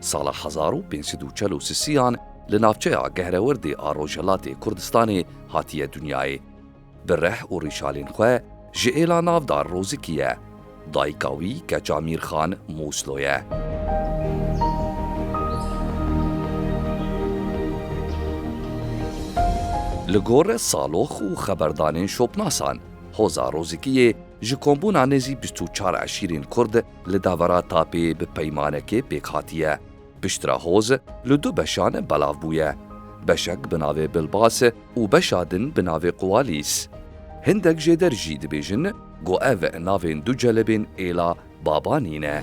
Sala hezar û pênc sed û çel û sisiyan li navçeya Gehrewirdê a Rojhilatê Kurdistanê hatiye dinyayê. Bi reh û rîşalên xwe ji êla navdar Rozikî ye. Dayika wî keça Mîrxan Mûslo ye. Li gor salox û xeberdanên şopnasan, hoza Rozikiyê ji kombûna nêzî bîst û çar eşîrên Kurd, li dawera tapê bi peymanekê pêk hatiye. Piştre hoz li du beşan belav bûye. Beşek bi navê Bilbas û beşa din bi navê Quwalîs. Hindek jê der jî dibêjin ku ev navên du celebên êla Babanî ne.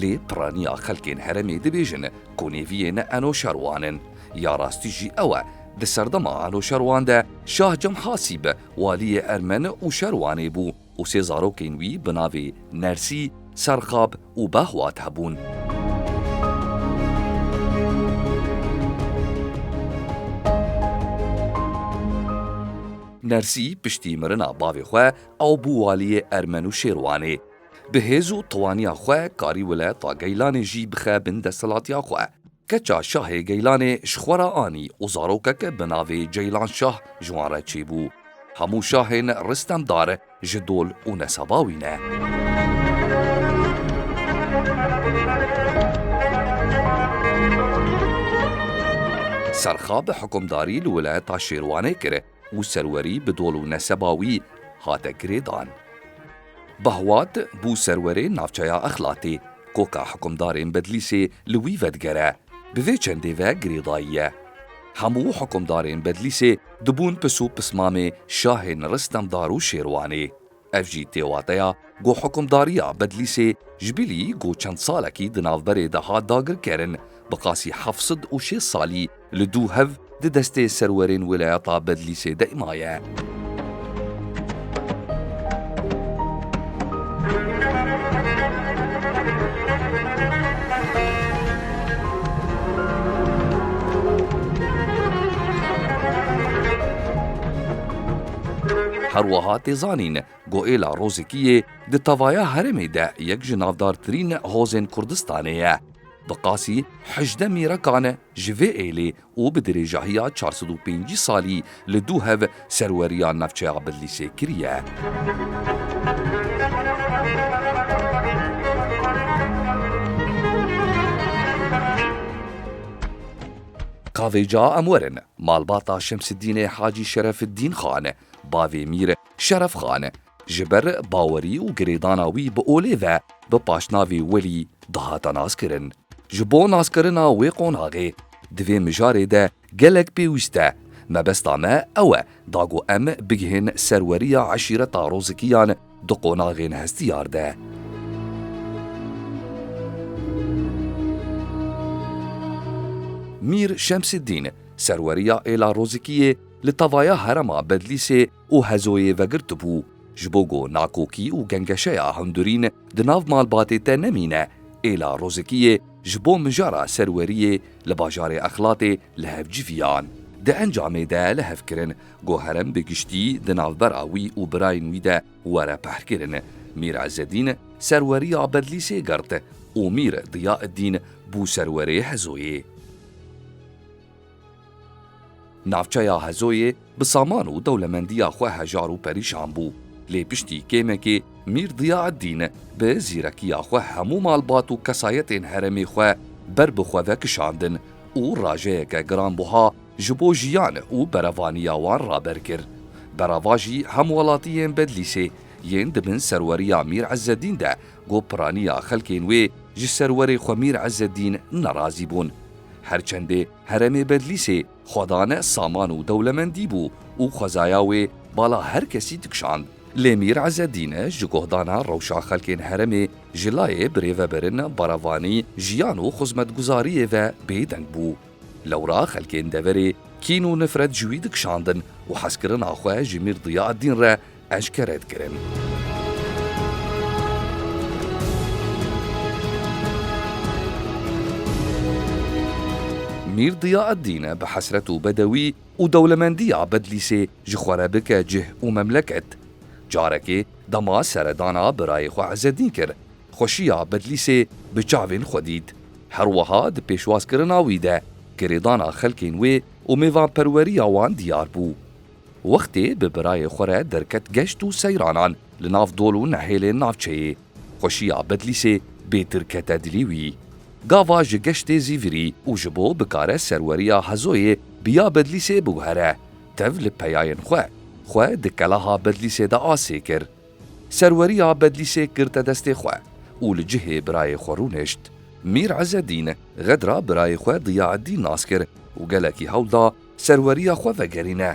Lê piraniya xelkên herêmê dibêjin ku nêviyên Enoşerwan in. Ya rastî jî ew e, di serdema Enoşerwan de Şah Cemhasîb waliyê Ermen û Şerwanê bû û sê zarokên wî bi navê Nersî, Serxab û Behwat hebûn. Nersî piştî mirina bavê xwe ew bû waliyê Ermen û Şêrwanê. Bi hêz û tewaniya xwe karî weleta Geylanê jî bixe bin desthilatiya xwe. Keça şahê Geylanê ji xwe re anî û zarokek bi navê Ceylan Şah ji wan re çêbû. Hemû şahên Ristemdar ji dol û nesaba wî ne. Serxa bi hukmdarî li weleta Şêrwanê kir. û serwerî bi dol û neseba wî hate girêdan. Bahuat bû serwerê navçeya Exlatê, koka hikumdarên Bedlîsê li wî vedigere, bi vê çendê ve girêdayiye. Hemû hikumdarên Bedlîsê dibûn pis û pismamê şahên Ristemdar û Şêrwanê. Ev jî tê wateya ku hukimdariya Bedlîsê ji bilî ku çend salekî di navberê de hat dagirkerin, bi qasî heft sed û şêst salî li dû hev di destê serwerên weleyata Bedlîsê de maye. Her wiha tê zanîn ku êla Rûzikiyê di tevaya herêmê de yek ji navdartirîn hozên Kurdistanê ye. Bi qasî hejdeh mîrekan ji vê êlê û bi dirêjahiya çar sed û pêncî salî li dû hev serweriya navçeya Bidlîsê kiriye. Ka vêca em werin Malbata Şemsiddînê Hacî Şerefiddîn Xan, bavê Mîr Şeref Xan, ji ber bawerî û girêdana wî bi olê ve bi paşnavê Welî dihate naskirin. Ji bo naskirina wê qonaxê di vê mijarê de gelek pêwîst e. Mebesta me ew e da ku em bigihên serweriya eşîreta Rozikiyan, Du qonaxên hestiyar de. Mîr Şemsîddîn, serweriya êla Rozikiyê li tavaya herema Bedlîsê û Hezoyê vegirtibû, ji bo ku nakokî û gengeşeya hundirîn di nav malbatê te nemîne, êla Rozikiyê ji bo mijara serweriyê li bajarê Exlatê li hev civiyan. Di encamê de li hev kirin Ku herem bi giştî di navbera wî û birayên wî de were pehrkirin. Mîr Ezzedîn serweriya Bedlîsê girt û Mîr Diyaeddîn bû serwerê Hezoyê. Navçeya Hezoyê bi saman û dewlemendiya xwe hejar û perîşan bû. Lê piştî kêmekê Mîr Diyaeddîn bi zîrekiya xwe hemû malbat û kesayetên heremê xwe ber bi xwe ve kişandin û rajeyeke giranbuha ji bo jiyan û berevaniya wan raber kir. Berava jî hem welatiyên Bedlîsê yên di bin serweriya Mîr Îzzeddîn de ku piraniya xelkên wê ji serwerê xwe Mîr Îzzeddîn nerazî bûn. Her çendê heremê Bedlîsê xwedane saman û dewlemendî bû û xwezaya wê bala her kesî dikişand. Lê Mîr Îzzeddîn ji guhdana rewşa xelkên heremê ji layê birêveberên berevanî, jiyan û xizmetguzariyê ve bêdeng bû. Lewra xelkên deverê kîn û nifret ji wî dikişandin û hezkirina xwe ji Mîr Diyaaddîn re eşkere dikirin. Mîr Diyaaddîn bi hesret û bedewî û dewlemendiya Bedlîsê ji xwe re bike cih û memleket. Carekê dema seredana birayê xwe Ezeddîn kir. Xweşiya Bedlîsê bi çavên xwe dît. Herweha di pêşwazkirina wî de girêdana xelkên wê û mêvanperweriya wan diyar bû. Wextê bi birayê xwe re derket geşt û seyranan li nav dol û nehêlên navçeyê, xweşiya Bedlîsê bê dirkete dilî wî. Gava ji geştê Zîvirî û ji bo bikare serweriya Hezoyê bi ya Bedlîsê biguhere, tev li peyayên xwe, xwe di kelaha Bedlîsê de asê kir. Serweriya Bedlîsê girte destê xwe û li cihê birayê xwe rûnişt. Mîr Îzzedîn Xedra birayê xwe Diyaeddîn nas kir û gelekî hewl da serweriya xwe vegerîne.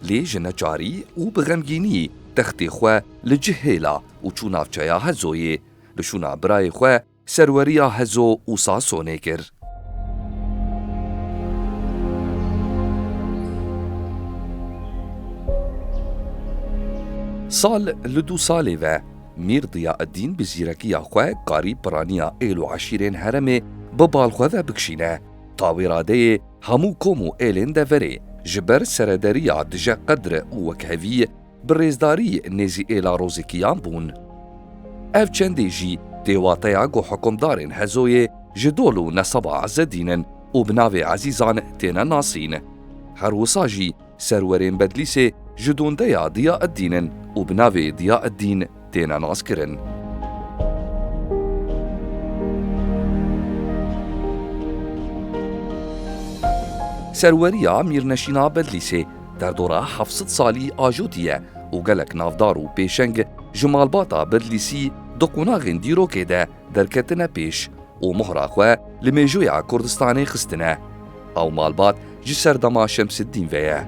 Lê ji neçarî û bi xemgînî textê xwe li cih hêla û çû navçeya Hezoyê. Bi şûna birayê xwe Serweriya Hezo û Sasonê kir. Sal li du salê ve Mîr Diya'eddîn bi zîrekiya xwe karî piraniya êl û eşîrên heremê bi bal xwe ve bikşîne. Ta wê radeyê hemû kom û êlên deverê ji ber serederiya dije qedre û wekhevî bi rêzdarî nêzî êla rozekiyan bûn. Ev çendê jî tê wateya ku hikumdarên Hezoyê ji dol û nesaba Ezzedîn in û bi navê Ezîzan têne nasîn. Her wisa jî serwerên Bedlîsê ji dondeya Dîyaeddîn in û bi navê Dîyaeddîn têne naskirin. Serweriya Mîrneşîna Bedlîsê derdora heft sed salî ajotî ye û gelek navdar û pêşeng ji malbata Bedlîsî di qonaxên dîrokê de derketine pêş û mohra xwe li mêjoya Kurdistanê xistine. Ew malbat ji serdema Şemsiddîn ve ye.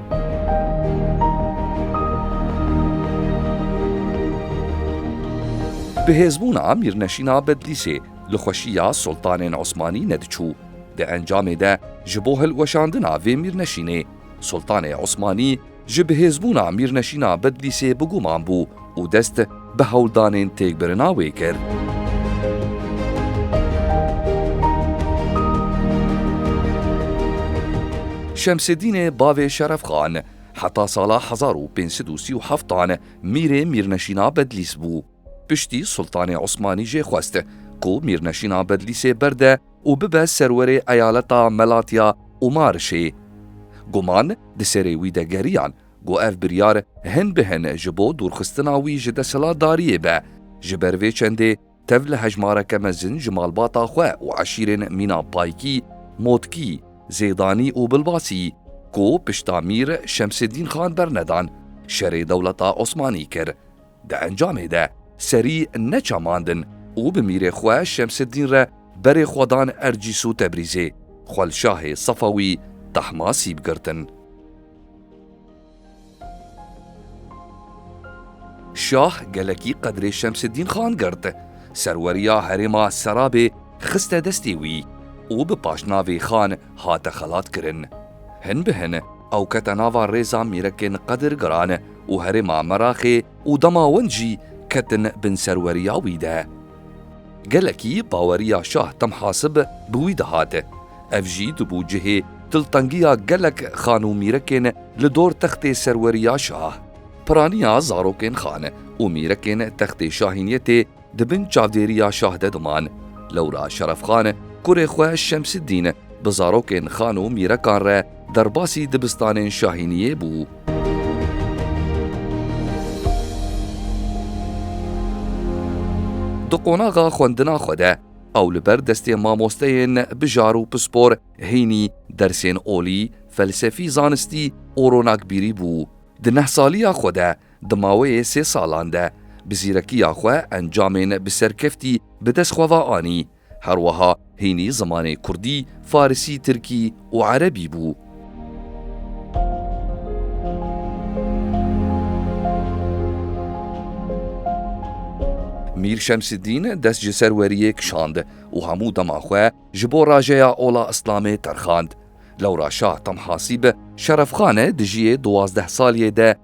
Bihêzbûna Mîrneşîna Bedlîsê li xweşiya Sultanên Osmanî nediçû. Di encamê de ji bo hilweşandina vê mîrneşînê, Sultanê Osmanî, Ji bihêzbûna Mîrneşîna Bedlîsê bi guman bû û dest bi hewldanên têkbirina wê kir. Şemsêdînê bavê Şerefxan heta sala hezar û pênc sed û sî û heftan mîrê Mîrneşîna Bedlîs bû. Piştî Sultanê Osmanî jê xwest ku Mîrneşîna Bedlîsê berde û bibe serwerê eyaleta Melatiya û Marişê. Guman di serê wî de geriyan ku ev biryar hin bi hin ji bo dûrxistina wî ji desthilatdariyê be. Ji ber vê çendê tev li hejmareke mezin ji malbata xwe û eşîrên mîna Paykî, Motkî, Zêdanî û Bilbasî ku pişta Mîr Şemseddîn Xan bernedan, şerê dewleta Osmanî kir. Di encamê de serî neçamandin û bi mîrê xwe Şemseddîn re berê xwe dan Ercîs û Tebrîzê, xwe li şahê Sefawî Tahmasîb girtin. Şah gelekî qedrê Şemseddîn Xan girt, serweriya herêma Serabê xiste destê wî û bi paşnavê Xan hate xelatkirin. Hin bi hin ew kete nava rêza mîrekên qedirgiran, û herêma Meraxê û dema Wend jî ketin bin serweriya wî de. Gelekî baweriya Şah Temhasib bi wî dihate. Ev jî dibû cihê diltengiya gelek xan û mîrekên li dor textê serweriya Şah. Piraniya zarokên xan û mîrekên textê şahîniyetê Di bin çavdêriya şah de diman. Lewra Şerefxan kurê xwe Şemsiddîn bi zarokên xan û mîrekan re derbasî dibistanên şahîniyê bû. Di qonaxa xwendina xwe de ew li ber destê mamosteyên bijar û pispor hînî dersên olî, felsefî, zanistî û ronakbîrî bû. Di neh saliya xwe de Di maweyê sê salan de bi zîrekiya xwe encamên bi serkeftî bi dest xwe ve anî. Her wiha hînî zimanê kurdî, farisî, tirkî û erebî bû. Mîr Şemsiddîn dest ji ser weriyê kişand û hemû dema xwe ji bo rajeya ola îslamê terxand. Lewra Şah Temhasîb Şerefxan dijiyê duwazdeh saliyê de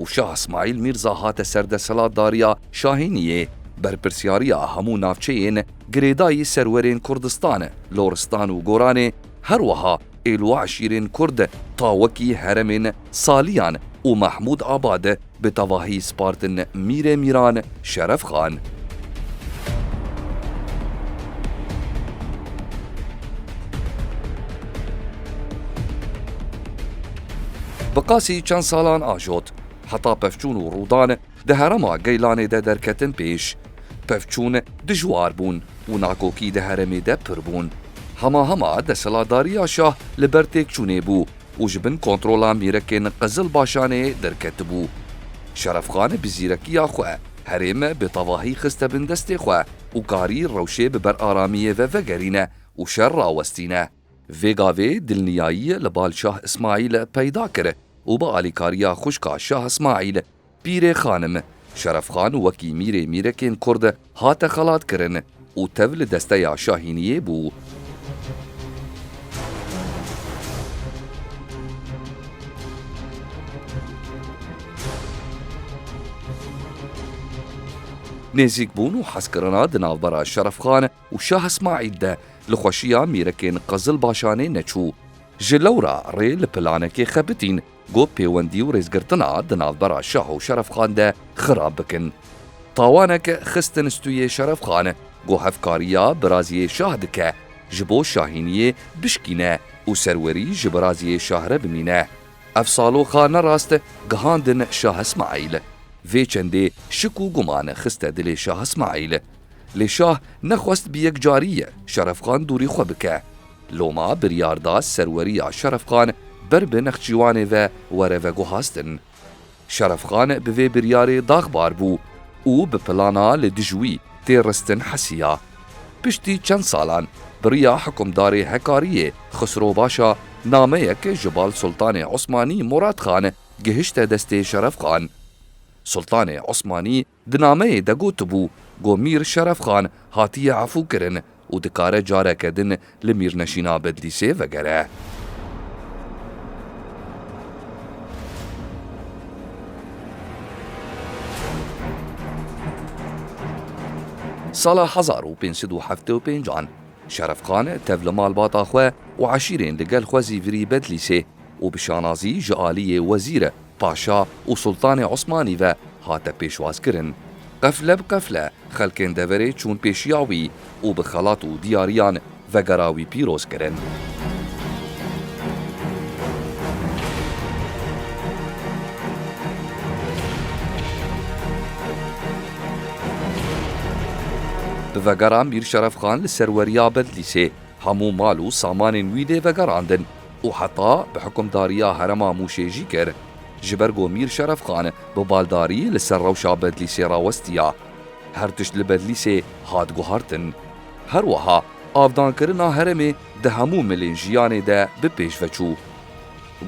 û Şah Îsmaîl Mîrza hate ser desthilatdariya Şahîniyê, berpirsyariya hemû navçeyên girêdayî serwerên Kurdistan, Loristan û Goranê, herwiha êl û eşîrên Kurd ta wekî heremên Saliyan û Mehmûd Abad bi tevahî spartin Mîrê Mîran, Şeref Xan. Bi qasî çend salan ajot. Heta pevçûn û rûdan di herema Geylanê de derketin pêş. Pevçûn dijwar bûn û nakokî di heremê de pir bûn. Hema hema desthilatdariya şah li ber têkçûnê bû û ji bin kontrola mîrekên Qizilbaşanê derketibû. Şerefxan bi zîrekiya xwe herême bi tevahî xiste bin destê xwe û karî rewşê bi ber aramiyê ve vegerîne û şer rawestîne. Vê gavê dilniyayî li bal Şah Îsmaîl peyda kir û bi alîkariya xwişka Şah Îsmaîl, Pîrê Xanim, Şerefxan wekî mîrê mîrekên Kurd hate xelatkirin û tev li desteya Şahîniyê bû. Nêzîkbûn û hezkirina di navbera Şerefxan û Şah Îsmaîl de li xweşiya mîrekên Qizilbaşanê neçû. Ji lewra rê li planekê xebitîn Got pêwendî û rêzgirtina di navbera şah û şerefxan de xirab bikin. Tawanek xistin stûyê şerefxan ku hevkariya biraziyê şah dike ji bo şahîniyê bişkîne û serwerî ji biraziyê şah re bimîne. Ev saloxa nerast gihandin şah Ismaîl. Vê çendê şik û guman xiste dilê şah Ismaîl. Lê şah nexwest bi yekcariyê Şerefxan dûrî xwe bike. Loma biryar da serweriya Şerefxan ber bi Nexçîwanê ve were veguhastin. Şerefxan bi vê biryarê daxbar bû û bi plana li dij wî tê ristin hesiya. Piştî çend salan biriya hikûmdarê Hekariyê Xisrobaşa nameyek ji bal Sultanê Osmanî Muratxan gihişte destê Şerefxan. Sultanê Osmanî Di nameyê de gotibû ku Mîr Şeref Xan hatiye efûkirin û dikare careke din li Mîrneşîna Bedlîsê vegere. Sala hezar û pênc sed û heftê û pênc an Şeref Xan tev li malbata xwe û eşîrên li gel xwe zî virî Bedlîsê û bi şanazî ji aliyê wezîr Paşa û Sultanê Osmanî ve hate pêşwazkirin. Qefle bi qefle xelkên deverê çûn pêşiya wî û bi xelat û diyariyan vegera wî pîroz kirin. Bi vegera Mîr Şerefxan li serweriya Bedlîsê. Hemû mal û samanên wî dê vegerandin û heta bi hikimdariya herema Mûşê jî kir. Ji ber ku Mîr Şeref Xan bi baldarî li ser rewşa Bedlîsê rawestiya, her tişt li Bedlîsê hat guhartin. Her wiha avdankirina heremê di hemû milên jiyanê de bi pêş ve çû.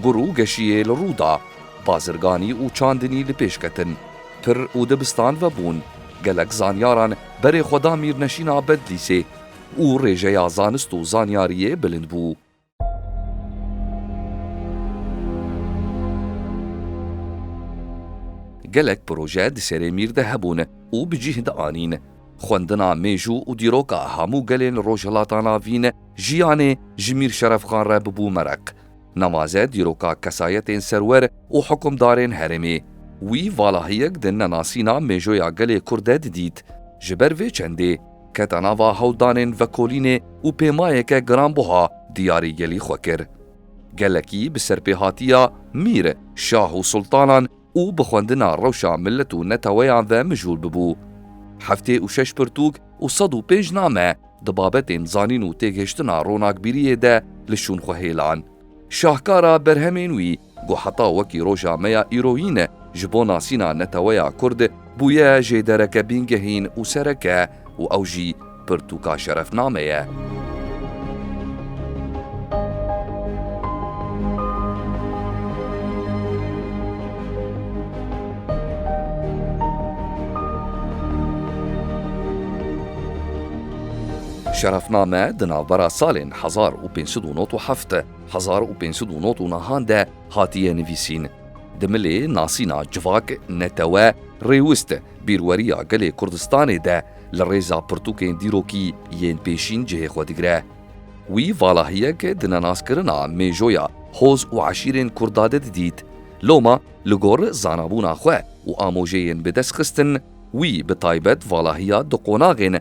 Gur û geşiyê li rû da, bazirganî û çandinî li pêş ketin. Pir û dibistan vebûn, gelek zanyaran berê xwe da mîrneşîna Bedlîsê û rêjeya zanist û zanyariyê bilind bû. Gelek proje di serê mîr de hebûn û bi cîh de anîn. Xwendina mêjû û dîroka hemû gelên Rojhilata Navîn jiyanê ji Mîr Şerefxan re bibû mereq. Nemaze dîroka kesayetên serwer û hikumdarên herêmê. Wî valahiyek di nenasîna mêjoya gelê Kurd de didît. Ji ber vê çendê. Keta nava hewldanên vekolînê û pêmayeke giranbuha diyarî gelî xwe kir. Gelekî bi serpêhatiya mîr, şah û sultanan û bi xwendina rewşa milet û neteweyan ve mijûl bibû. Heftê û şeş pirtûk û sed û pênc name di babetên zanîn û têgihiştina ronakbîriyê de li şûn xwe hêlan. Şahkara berhemên wî Ku heta wekî roja me ya îroyî ne ji bo nasîna neteweya Kurd bûye jê dereke bîngehîn û sereke û ew jî pirtûka şerefname ye. Şerefname di navbera salên hezar û pênc sed û nod û heft. Hezar û pênc sed û nod û nihan de hatiye nivîsîn. Di milê nasîna civak, netewe, rêwist, bîrweriya gelê Kurdistanê de li rêza pirtûkên dîrokî yên pêşîn cihê xwe digire. Wî valahiyek di nenaskirina mêjoya hoz û eşîrên Kurda de didît. Loma li gor zanabûna xwe û amojeyên bi dest xistin, wî bi taybet valahiya di qonaxên,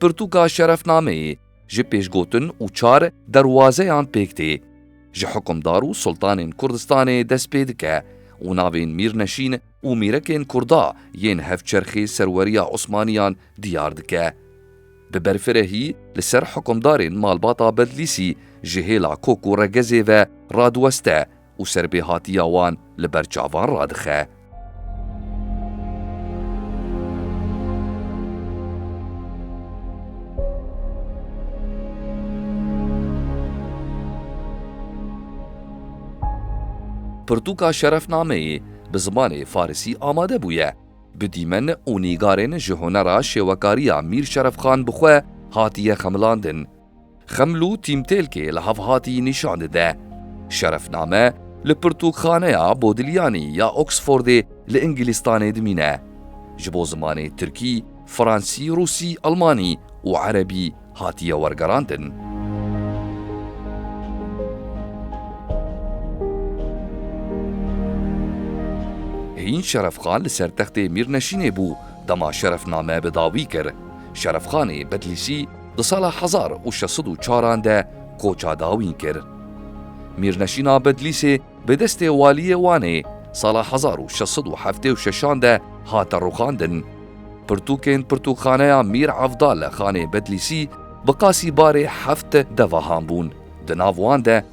Pirtûka şerefnameyê ji pêşgotin û çar derwazeyan pêk tê. Ji hikimdar û sultanên Kurdistanê dest pê dike û navên mîrneşîn û mîrekên Kurda yên hevçerxê serweriya Osmaniyan diyar dike. Bi berfirehî li ser hikimdarên malbata Bedlîsî ji hêla kok û regezê ve radiweste û serbêhatiya wan li ber çavan radixe. Pirtûka şerefnameyê bi zimanê farisî amade bûye. Bi dîmen û nîgarên ji hunera şêwekariya Mîr Şerefxan bi xwe hatiye xemilandin. Xemlu tîmtêlkê li Havhatî nîşan dide. Şerefname li Pirtûkxaneya Bodiliyanî ya Oxfordê li Îngilîztanê dimîne. Ji bo zimanê Tirkî, Fransî, Rûsî, Elmanî û Erebî hatiye wergerandin. Hîn Şerefxan li ser textê Mîrneşînê bû dema Şerefname bi dawî kir. Şerefxanê Bedlîsî, Di sala hezar û şeş sed û çar an de koça dawîn kir. Mîrneşîna Bedlîsê bi destê Waliyê Wanê sala hezar û şeş sed û heftê û şeş an de hate rûxandin. Pirtûkên Pirtûkxaneya Mîr Evdal li Xanê Bedlîsî bi qasî barê heft devahan bûn, di nav wan de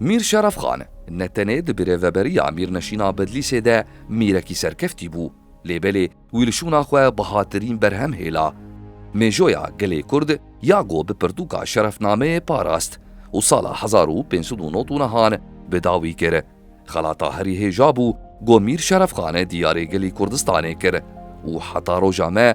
Mîr Şerefxan ne tenê di birêveberiya Mîrnişîna Bedlîsê de mîrekî serkeftî bû, lê belê wî li şûna xwe bihatirîn berhem hêla. Mêjoya gelê Kurd ya ku bi pirtûka şerefnameyê parast û sala hezar û pênc sed û nod û nihan bi dawî kir, xelata herî hêja bû ku Mîr Şerefxan diyarê gelê Kurdistanê kir û heta roja me